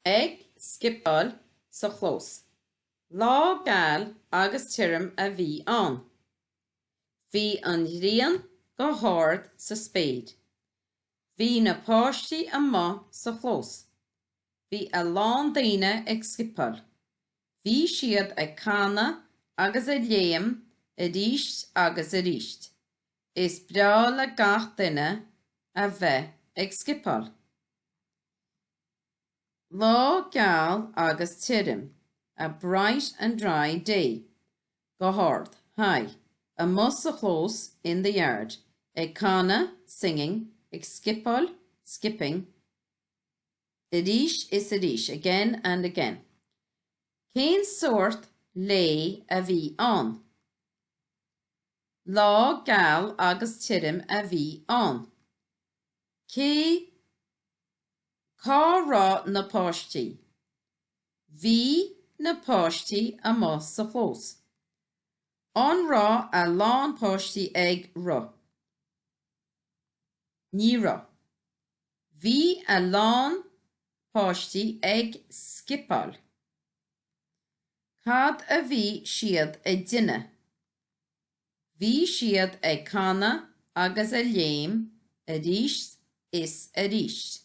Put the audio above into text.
Ag scipeáil sa chlós. Lá geal agus tirim a bhí ann. Bhí an ghrian go hard sa spéir. Bhí na páistí amuigh sa chlós. Bhí a lán daoine ag scipeáil. Bhí siad ag canadh agus ag léim aríst agus aríst. Is breá le gach duine a bheith ag scipeáil. Lá geal agus tirim, a bright and dry day. Go hard, high. Amuigh sa chlós, in the yard. Ag canadh, singing. Ag scipeáil, skipping. Arís is arís, again and again. Cén sórt lae a bhí ann? Lá geal agus tirim a bhí ann. Cé cá raibh na páistí? Bhí na páistí amuigh sa chlós. An raibh a lán páistí ag rith? Ní raibh. Bhí a lán páistí ag scipeáil. Cad a bhí siad ag déanamh? Bhí siad ag canadh agus ag léim aríst is aríst.